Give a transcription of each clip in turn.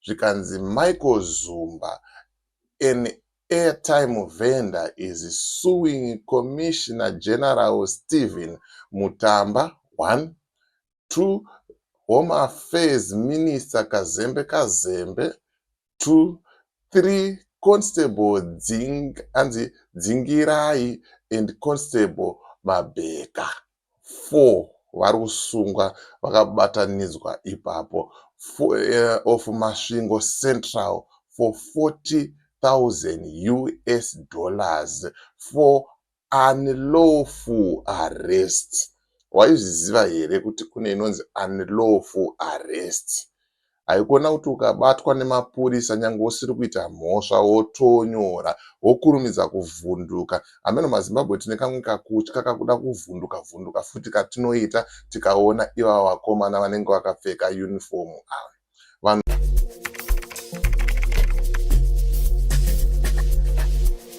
zvikanzi Michael Zumba an airtime vendor is suing Commissioner General Stephen Mutamba, one, two, Home Affairs Minister Kazembe Kazembe, two, three, Constable Dzing, anzi Dzingirai and Constable Mabheka. 4 vari kusungwa vakabatanidzwa ipapo of Masvingo Central for 40,000 us dollars for unlawful arrest. Waizviziva here kuti kune inonzi unlawful arrest? haikona kuti ukabatwa nemapurisa nyange usiri kuita mhosva wotonyora wokurumidza kuvhunduka hameno mazimbabwe tine kamwe kakutya kakuda kuvhunduka vhunduka futi katinoita tikaona ivava vakomana vanenge vakapfeka uniform ava vanhu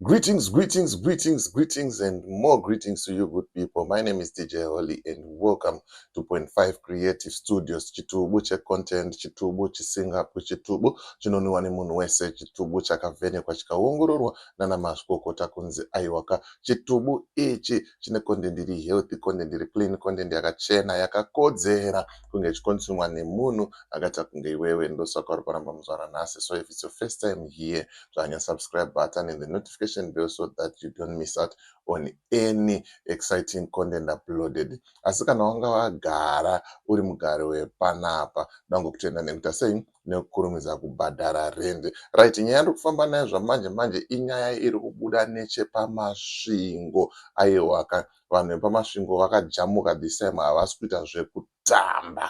Greetings, greetings, greetings, greetings, and more greetings to you, good people. My name is DJ Holly, and welcome to Point Five Creative Studios. Chitubu che content, chitubu chisingapi, chitubu chinonwiwa nemunhu wese, chitubu chakavhenekwa chikaongororwa nana mazvikokota kunzi aiwaka. Chitubu ichi chine content iri healthy, content iri clean, content yakachena, yakakodzera kunge ichikonsumwa nemunhu akaita kunge iwewe. Ndosaka uri kuramba muzvara nhasi. So if it's your first time here, zvanya subscribe button and the notification bell so that you don't miss out on any exciting content uploaded asi kana wanga wagara uri mugari wepanapa ndango kutenda nekuita sei nekukurumidza kubhadhara rende right nyaya iri kufamba nayo zvamanje manje inyaya iri kubuda nechepamasvingo aiwaka vanhu vepamasvingo vakajamuka this time havasi kuita zvekutamba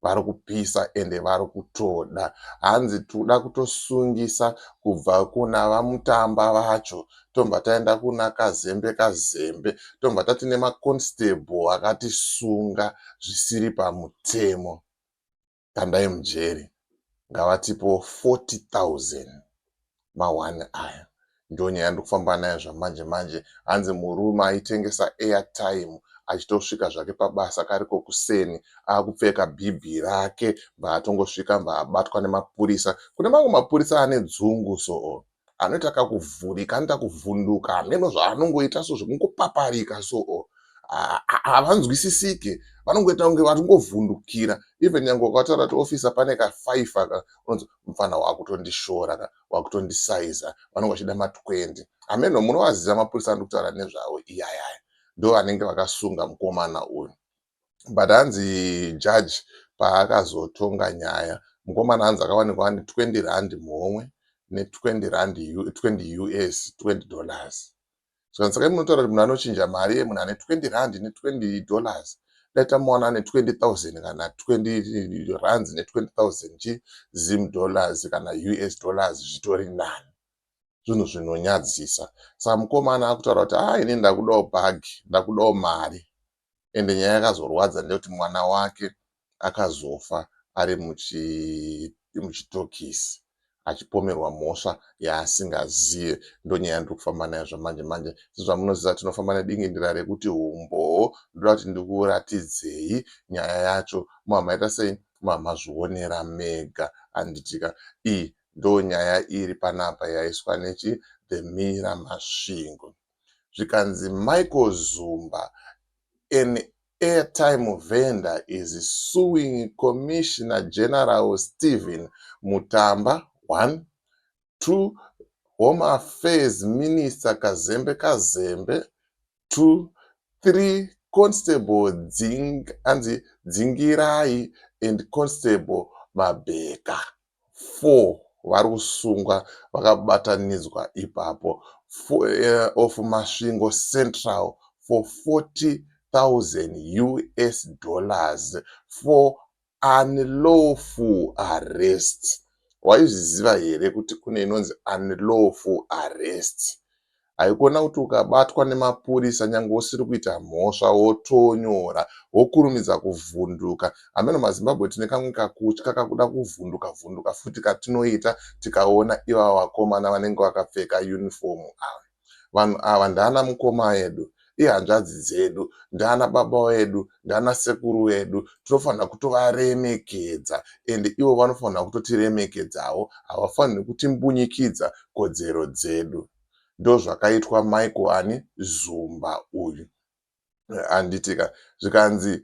vari kupisa ende vari kutoda hanzi tikuda kutosungisa kubva kuna vamutamba vacho tobva taenda kuna kazembe kazembe tobva tati nemaconstable akatisunga zvisiri pamutemo kandai mujeri ngavatipo 40 000 ma one aya. Ndonyaya yandiri kufamba nayo zvamanje manje hanzi murume aitengesa airtime achitosvika zvake pabasa kariko kuseni akupfeka bhibhi rake mbaatongosvika mbaabatwa nemapurisa. Kune mamwe mapurisa ane dzungu soo anoita kakuvhurika anoita kuvhunduka hameno zvaanongoita so zvekungopaparika soo havanzwisisike vanongoita kunge vari kungovhundukira even nyange ukataura kuti officer pane ka five aka unonzi mupfana wakutondishora ka wakutondisaiza vanenge vachida ma 20 hameno munovaziva mapurisa andiri kutaura nezvavo iyayaya ndo vanenge vakasunga mukomana uyu but hanzi judge paakazotonga nyaya mukomana hanzi akawanikwa ane 20 rand muhomwe ne 20 rand 20 us 20 dollars Zvikanzi saka imi munotaura kuti munhu anochinja mari yemunhu ane 20 rand ne 20 dollars dai tamuwana ane 20,000 kana 20 rands ne 20,000 chi zim dollars kana us dollars zvitori nani zvinhu zvinonyadzisa saka mukomana akutaura kuti haa ini ndakudawo bhagi ndakudawo mari ende nyaya yakazorwadza ndeyekuti mwana wake akazofa ari muchitokisi achipomerwa mhosva yaasingazive ndonyaya ndiri kufamba nayo zvamanje manje sezvamunoziva tinofamba nedingindira rekuti umbowo ndoda kuti ndikuratidzei nyaya yacho muhamaita sei mamazvionera mega anditika iyi ndonyaya iri panapa yaiswa nechi the mira masvingo zvikanzi Michael Zumba an airtime vendor is suing Commissioner General Stephen Mutamba, one, two, Home Affairs Minister Kazembe Kazembe, two, three, Constable Dzing, anzi Dzingirai and Constable Mabheka. four vari kusungwa vakabatanidzwa ipapo of Masvingo Central for 40,000 us dollars for unlawful arrest. Waizviziva here kuti kune inonzi unlawful arrest? Haikona kuti ukabatwa nemapurisa nyange usiri kuita mhosva wotonyora wokurumidza kuvhunduka. Hameno maZimbabwe tine kamwe kakutya kakuda kuvhunduka vhunduka futi katinoita tikaona ivava vakomana vanenge vakapfeka uniform ava. Vanhu ava ndaana mukoma edu. ihanzvadzi dzedu ndiana baba vedu ndiana sekuru vedu tinofanira kutovaremekedza and ivo vanofanira kutotiremekedzawo havafaniri kutimbunyikidza kodzero dzedu ndozvakaitwa michael ani zumba uyu handitika zvikanzi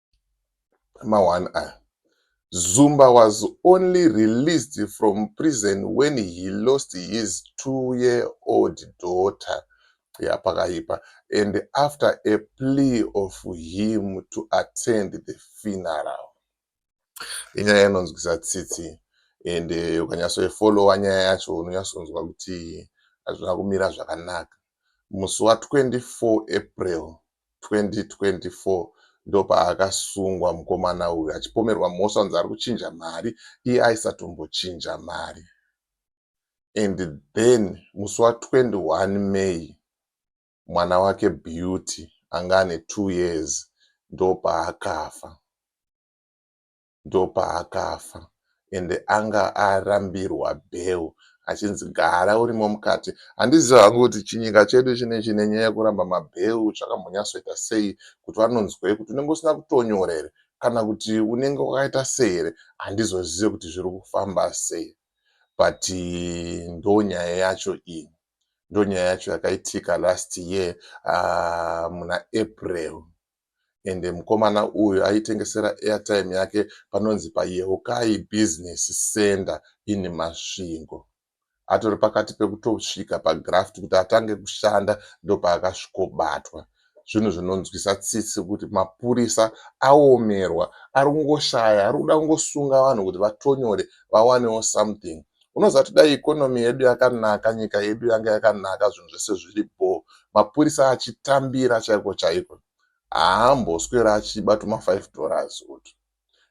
ma one aya. Zumba was only released from prison when he lost his two year old daughter ya pakaipa and after a plea of him to attend the funeral. Inyaya inonzwisa tsitsi and eh, ukanyatsoifollowa nyaya yacho unonyatsonzwa kuti hazvina kumira zvakanaka. Musi wa 24 April 2024 ndopaakasungwa mukomana uyu achipomerwa mhosva kunzi ari kuchinja mari iye aisatombochinja mari and then musi wa 21 May mwana wake Beauty anga ane two years ndopaakafa. ndopaakafa ende anga arambirwa bail achinzi gara urimo mukati handizive hangu kuti chinyika chedu chine chine nyaya yekuramba mabail zvakambonyatsoita sei kuti vanonzwei kuti unenge usina kutonyora here kana kuti unenge wakaita sei here handizozive kuti zviri kufamba sei but ndonyaya yacho iyi ndonyaya yacho yakaitika last year uh, muna april ende mukomana uyu aitengesera airtime yake panonzi paYeukai Business Centre in Masvingo. Atori pakati pekutosvika pagraft kuti atange kushanda ndopaakasvikobatwa. Zvinhu zvinonzwisa tsitsi kuti mapurisa aomerwa, ari kungoshaya, ari kuda kungosunga vanhu kuti vatonyore vawanewo something. unoziva kuti dai ikonomi yedu yakanaka nyika yedu yanga yakanaka zvinhu zvese zviri bho mapurisa achitambira chaiko chaiko haamboswera achiba tuma 5 dollars utu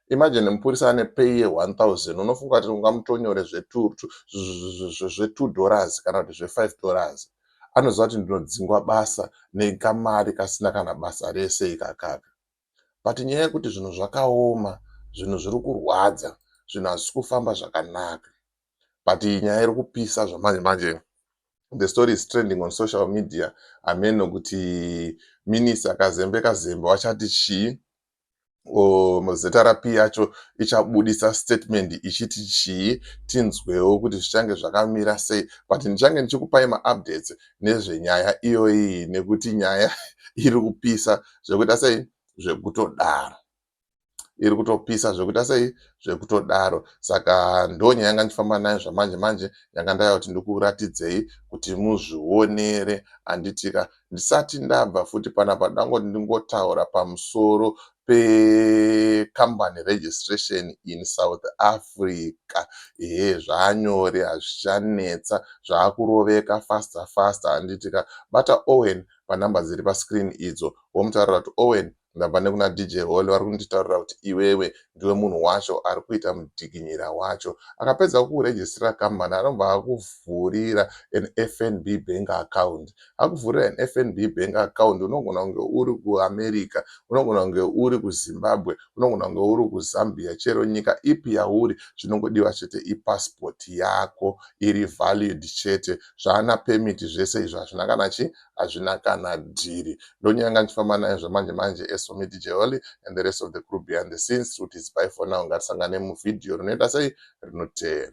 imagine mupurisa ane pay ye 1000 unofunga kuti ungamutonyore zve2 dollars kana kuti zve5 dollars anoziva kuti ndinodzingwa basa nekamari kasina kana basa rese ikakaka but nyaya yekuti zvinhu zvakaoma zvinhu zviri kurwadza zvinhu hazvisi kufamba zvakanaka but iyi nyaya iri kupisa zvamanje manje the story is trending on social media ameno kuti minisi akazembe kazembe wachati chii zrp yacho ichabudisa statement ichiti chii tinzwewo kuti zvichange zvakamira sei but ndichange ndichikupai maupdates nezvenyaya iyoyi nekuti nyaya iri kupisa zvekuita sei zvekutodaro iri kutopisa zvekuita sei zvekutodaro saka ndonyaya yanga ndichifamba nayo zvamanje manje yanga ndaya kuti ndikuratidzei kuti muzvionere anditika ndisati ndabva futi panapa ndangoti ndingotaura pamusoro pecompany registration in south africa ehe zvanyore hazvichanetsa zvakuroveka faster faster anditika bata owen panumber dziri pascreen idzo womutaurira kuti owen ndabva nekuna dj holy vari kunditaurira kuti iwewe ndiwe munhu wacho ari kuita mudikinyira wacho akapedza kukurejistira kambani anobva akuvhurira an fnb bank account akuvhurira an fnb bank account unogona kunge uri kuamerica unogona kunge uri kuzimbabwe unogona kunge uri kuzambia chero nyika ipi yauri chinongodiwa chete ipasipoti yako iri valid chete zvaana permit zvese izvo hazvina kana chi hazvina kana dhiri ndonyanga ndichifamba naye zvamanje manje as for me dj holy and the rest of the crew behind the scenes truth is by for now ngatisangane muvideo rinoita sei rinoteera